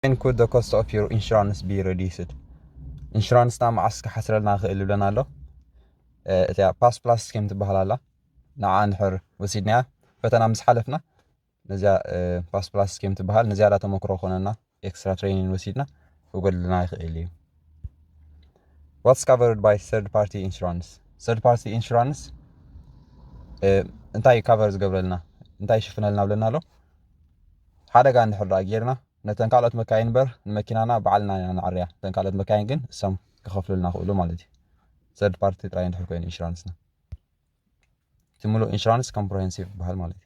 When could the cost of your insurance be reduced? ኢንሹራንስና መዓስ ክሓስረልና ይኽእል ይብለና ኣሎ እቲያ ፓስ ፕላስ ስኪም ትበሃል ኣላ ንዓ ንሕር ወሲድናያ ፈተና ምስ ሓለፍና ነዚያ ፓስ ፕላስ ስኪም ትበሃል ንዝያዳ ተመክሮ ኮነና ኤክስትራ ትሬኒን ወሲድና ክጎድለና ይኽእል እዩ ዋትስ ካቨርድ ባይ ሰርድ ፓርቲ ኢንሹራንስ ሰርድ ፓርቲ ኢንሹራንስ እንታይ እዩ ካቨር ዝገብረልና እንታይ ይሽፍነልና ብለና ኣሎ ሓደጋ እንድሕር ደኣ ጌርና ነተን ካልኦት መካይን እምበር ንመኪናና በዓልና ኢና ንዓርያ እተን ካልኦት መካይን ግን እሶም ክኸፍሉልና ክእሉ ማለት እዩ ሰርድ ፓርቲ ጥራይ እንድሕር ኮይኑ ኢንሹራንስና እቲ ሙሉእ ኢንሹራንስ ኮምፕሬሄንሲቭ ይበሃል ማለት እዩ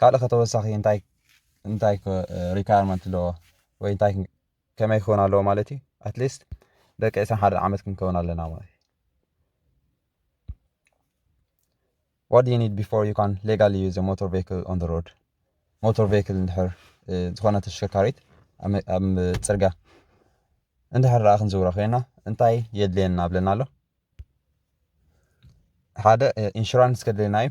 ካልእ ከ ተወሳኺ እንታይ እንታይ ሪኳየርመንት ኣለዎ ወይ እንታይ ከመይ ክኸውን ኣለዎ ማለት እዩ ኣትሊስት ደቂ ዕስራን ሓደን ዓመት ክንከውን ኣለና ማለት እዩ what do you need before you can legally use a motor vehicle on the road ሞተር ቬክል እንድሕር ዝኾነ ተሽከርካሪት ኣብ ፅርጋ እንድሕር ረኣ ክንዝውሮ ኮይና እንታይ የድልየና ብለና ኣሎ ሓደ ኢንሹራንስ ከድልየና እዩ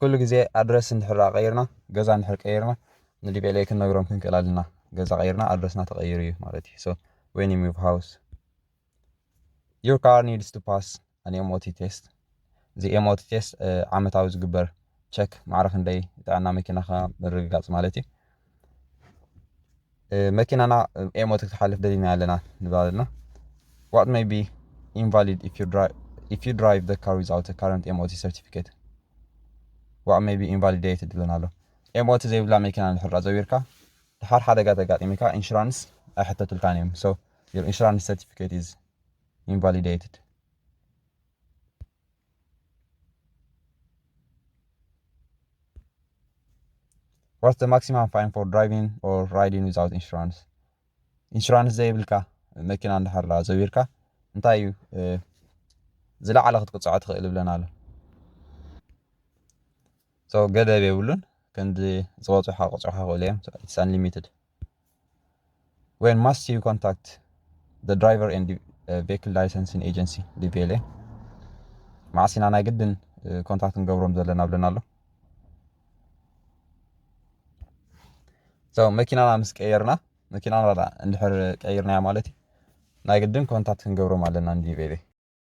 ኩሉ ግዜ ኣድረስ እንድሕር ደኣ ቀይርና ገዛ እንድሕር ቀይርና ንዲቤሌ ክንነግሮም ክንክእል ኣለና ገዛ ቀይርና ኣድረስና ተቐይሩ እዩ ማለት እዩ ሶ ዌን ዩ ሙቭ ሃውስ ዩር ካር ኒድስ ቱ ፓስ ኣን ኤምኦቲ ቴስት እዚ ኤምኦቲ ቴስት ዓመታዊ ዝግበር ቸክ ማዕረ ክንደይ ጥዕና መኪናኻ ምርግጋፅ ማለት እዩ መኪናና ኤሞ ክትሓልፍ ደሊና ኣለና ንብል ኣለና ዋት ሜይ ቢ ኢንቫሊድ ኢፍ ዩ ድራይቭ ዘ ካር ዊዝኣውት ካረንት ኤምኦቲ ሰርቲፊኬት ዋት ሜይ ቢ ኢንቫሊዴትድ ይብለና ኣሎ ኤምኦቲ ዘይብላ መኪና ንድሕራ ዘዊርካ ድሓር ሓደጋ ተጋጢሚካ ኢንሹራንስ ኣይሕተቱልካን እዮም ሶ ዩር ኢንሹራንስ ሰርቲፊኬት ኢዝ ኢንቫሊዴትድ ዋትስ ዘ ማክሲማም ፋይን ፎር ድራይቪንግ ኦር ራይዲንግ ዊዛውት ኢንሹራንስ ኢንሹራንስ ዘይብልካ መኪና እንዳሓራ ዘቢርካ እንታይ እዩ ዝለዓለ ክትቅፅዖ ትኽእል ይብለና ኣሎ ሶ ገደብ የብሉን ክንዲ ዝበፅሖ ክቕፅዑካ ይኽእሉ እዮም ኢትስ ኣንሊሚትድ ዌን ማስት ዩ ኮንታክት ዘ ድራይቨር ኤንድ ቬክል ላይሰንሲን ኤጀንሲ ዲቤሌ ማዕሲና ናይ ግድን ኮንታክት ንገብሮም ዘለና ብለና ኣሎ መኪናና ምስ ቀየርና መኪናና እንድሕር ቀይርናያ ማለት እዩ ናይ ግድን ኮንታክት ክንገብሮም ኣለና ንዲቤሌ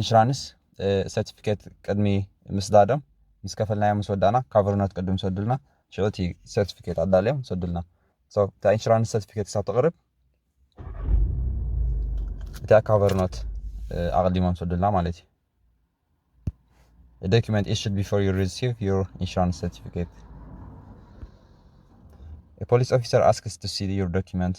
ኢንሹራንስ ሰርቲፊኬት ቅድሚ ምስዳዶም ምስ ከፈልናዮ ምስ ወዳእና ካቨርኖት ቅድም ሰዱልና ሽዑ እቲ ሰርቲፊኬት ኣዳልዮም ሰዱልና እታ ኢንሹራንስ ሰርቲፊኬት ክሳብ ተቕርብ እቲኣ ካቨርኖት ኣቕዲሞም ሰዱልና ማለት እዩ ዶኪመንት ኢሽድ ቢፎር ዩ ሪሲቭ ዩር ኢንሹራንስ ሰርቲፊኬት ፖሊስ ኦፊሰር ኣስክስ ቱ ሲ ዩር ዶኪመንት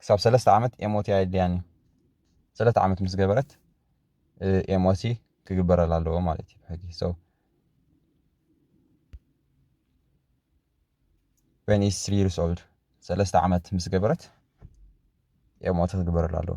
ክሳብ ሰለስተ ዓመት ኤምኦቲ ኣየድልያን እዩ። ሰለስተ ዓመት ምስ ገበረት ኤምኦቲ ክግበረላ ኣለዎ ማለት እዩ ብሕጊ። So when is three years old ሰለስተ ዓመት ምስ ገበረት ኤምኦቲ ክግበረላ ኣለዎ።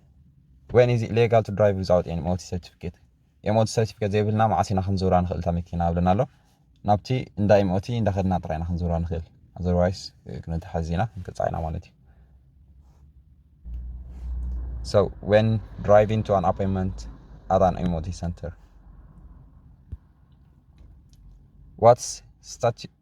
ወይኒ እዚ ሌጋል ቱ ድራይቭ ዊዛውት ኤኒ ሞቲ ሰርቲፊኬት ኤምኦቲ ሰርቲፊኬት ዘይብልና መዓስ ኢና ክንዝውራ ንኽእል እታ መኪና ኣብለና ኣሎ ናብቲ እንዳ ኤምኦቲ እንዳኸድና ጥራይ ኢና ክንዝውራ ንኽእል ኣዘርዋይስ ክንተሓዝ ኢና ክንቅፃዕ ኢና ማለት እዩ So when driving to an appointment at an MOT center, what's statu-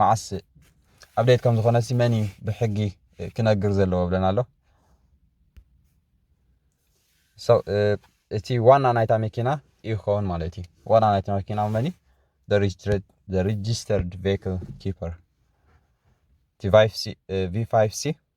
መዓስ ኣብዴት ከም ዝኾነ ሲ መን እዩ ብሕጊ ክነግር ዘለዎ ብለና ኣሎ እቲ ዋና ናይታ መኪና እዩ ክኸውን ማለት እዩ ዋና ናይታ መኪና መን እዩ ሬጅስተርድ ቬክል ኪፐር ቲ ቪ ሲ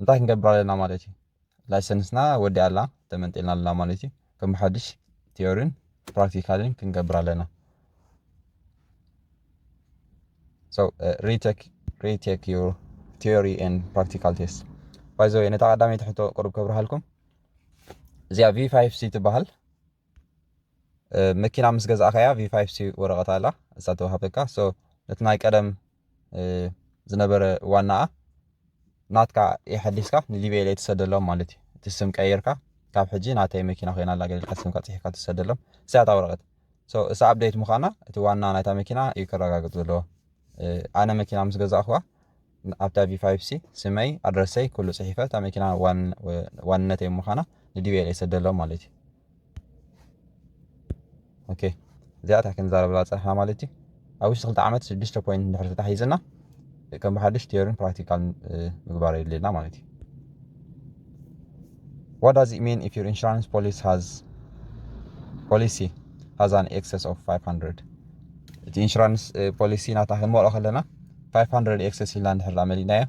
እንታይ ክንገብር ኣለና ማለት እዩ ላይሰንስና ወዲኣ ኣላ ተመንጢልና ኣለና ማለት እዩ ከም ሓድሽ ቲዮሪን ፕራክቲካልን ክንገብር ኣለና So uh, retake retake your theory and practical test. ባይዘወይ ነታ ቀዳመይቲ ሕቶ ቅሩብ ከብርሃልኩም እዚኣ ቪ ፋይቭ ሲ ትበሃል መኪና ምስ ገዛእካያ ቪፋይቭ ሲ ወረቐት ኣላ እሳ ተዋህበካ ሶ ነቲ ናይ ቀደም ዝነበረ ዋናኣ ናትካ የሐዲስካ ንሊብያ ኢለ ትሰደሎም ማለት እዩ እቲ ስም ቀይርካ ካብ ሕጂ ናተይ መኪና ኮይና ኣላ ገሊልካ ስምካ ፅሒፍካ ትሰደሎም እሳያታ ወረቐት ሶ እሳ ኣብደይት ምዃና እቲ ዋና ናይታ መኪና እዩ ከረጋግፅ ዘለዎ ኣነ መኪና ምስ ገዛእኹዋ ኣብታ ቪፋይፕሲ ስመይ ኣድረሰይ ኩሉ ጽሒፈ እታ መኪና ዋንነተይ ምዃና ንዲቤል የሰደሎም ማለት እዩ ኦኬ እዚኣ እታ ክንዛረብላ ፀርሕና ማለት እዩ ኣብ ውሽጢ ክልተ ዓመት ሽዱሽተ ፖይንት እንድሕር ተታሒዝና ከም ብሓዱሽ ቴዮሪን ፕራክቲካል ምግባር የድልየና ማለት እዩ What does it mean if your insurance policy has policy has an excess of 500 እቲ ኢንሹራንስ ፖሊሲ ናታ ክንመልኦ ከለና 500 ኤክሰስ ኢልና እንድሕር ደኣ መሊእናዮ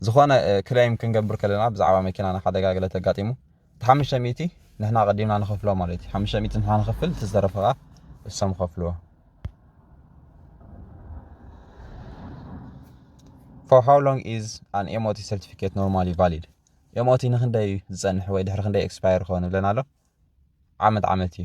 ዝኾነ ክሌም ክንገብር ከለና ብዛዕባ መኪናና ሓደጋ ገለ ተጋጢሙ እቲ ሓሙሽተ ሚእቲ ንሕና ቀዲምና ንኸፍሎ ማለት እዩ ሓሙሽተ ሚእቲ ንሕና ንኸፍል እቲ ዝተረፈ ከዓ እሶም ከፍልዎ For how long is an MOT certificate normally valid? MOT ንክንደይ ዝፀንሕ ወይ ድሕሪ ክንደይ ኤክስፓየር ክኸውን ብለና ኣሎ ዓመት ዓመት እዩ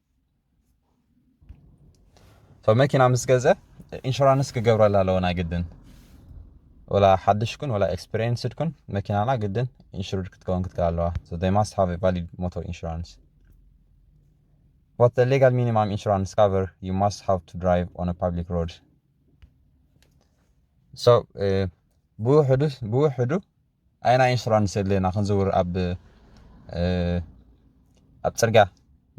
መኪና ምስ ገዘ ኢንሹራንስ ክገብረላ ኣለዎ ናይ ግድን ወላ ሓድሽ ኩን ወላ ኤክስፔሪንስድ ኩን መኪናና ግድን ኢንሹርድ ክትከውን ክትከል ኣለዋ ሶ ዴይ ማስት ሃቭ ቫሊድ ሞቶር ኢንሹራንስ ዋት ሌጋል ሚኒማም ኢንሹራንስ ካቨር ዩ ማስት ሃቭ ቱ ድራይቭ ኦን ፓብሊክ ሮድ ሶ ብውሕዱ ብውሕዱ ኣየናይ ኢንሹራንስ የድልየና ክንዝውር ኣብ ኣብ ፅርግያ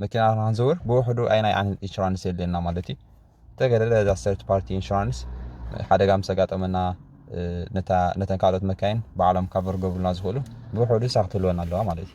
መኪና ክንዝውር ብውሕዱ ኣየናይ ዓይነት ኢንሹራንስ የድልየና ማለት እዩ ተገደደ እዛ ሰርድ ፓርቲ ኢንሹራንስ ሓደጋ ምስ ኣጋጠመና ነተን ካልኦት መካይን ባዕሎም ካቨር ገብሩልና ዝኽእሉ ብውሕዱ ሳክትህልወና ኣለዋ ማለት እዩ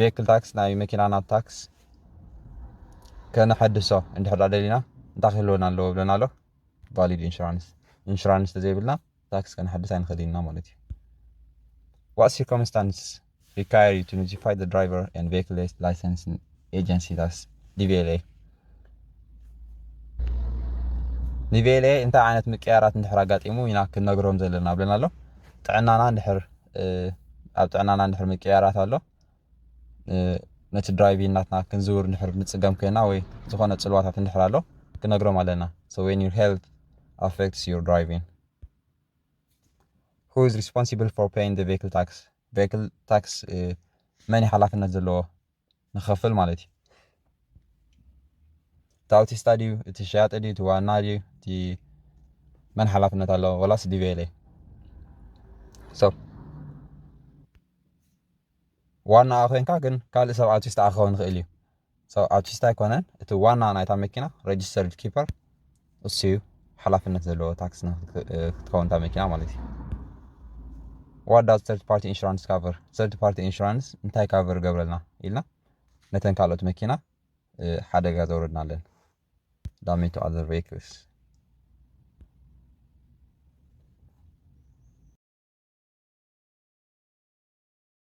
ቬክል ታክስ ናይ መኪናና ታክስ ከነሐድሶ እንድሕር ደሊና እንታይ ክህልወና ኣለዎ ብለና ኣሎ ቫሊድ ኢንሹራንስ ኢንሹራንስ ተዘይብልና ታክስ ከነሐድስ ኣይንኽእል ኢና ማለት እዩ ዋት ሲርኮምስታንስ ሪካየር ዩ ቱ ኖቲፋይ ድራይቨር ን ቬክል ላይሰንስ ኤጀንሲ ታክስ ዲቪኤልኤ ንቤሌ እንታይ ዓይነት ምቅያራት እንድሕር ኣጋጢሙ ኢና ክንነግሮም ዘለና ብለና ኣሎ ጥዕናና እንድሕር ኣብ ጥዕናና እንድሕር ምቅያራት ኣሎ ነቲ ድራይቪ ናትና ክንዝውር እንድሕር ንፅገም ኮይና ወይ ዝኾነ ፅልዋታት እንድሕር ኣሎ ክንነግሮም ኣለና so when your health affects your driving who is responsible for paying the vehicle tax vehicle tax መን ሓላፍነት ዘለዎ ንኸፍል ማለት እዩ። እቲ ኣውቲስታ ድዩ እቲ ሸያጢ ድዩ እቲ ዋና ድዩ እቲ መን ሓላፍነት ኣለዎ ወላስ ዲቬለ ሶ ዋና ኮይንካ ግን ካልእ ሰብ ኣውቲስታ ክኸውን ይኽእል እዩ ሶ ኣውቲስታ ኣይኮነን እቲ ዋና ናይታ መኪና ሬጅስተርድ ኪፐር እሱዩ ሓላፍነት ዘለዎ ታክስ ክትከውን እታ መኪና ማለት እዩ ዋት ዳዝ ተርድ ፓርቲ ኢንሹራንስ ካቨር ተርድ ፓርቲ ኢንሹራንስ እንታይ ካቨር ገብረልና ኢልና ነተን ካልኦት መኪና ሓደጋ ዘውረድና ኣለን ዳሜቱ ኣዘር ቬክልስ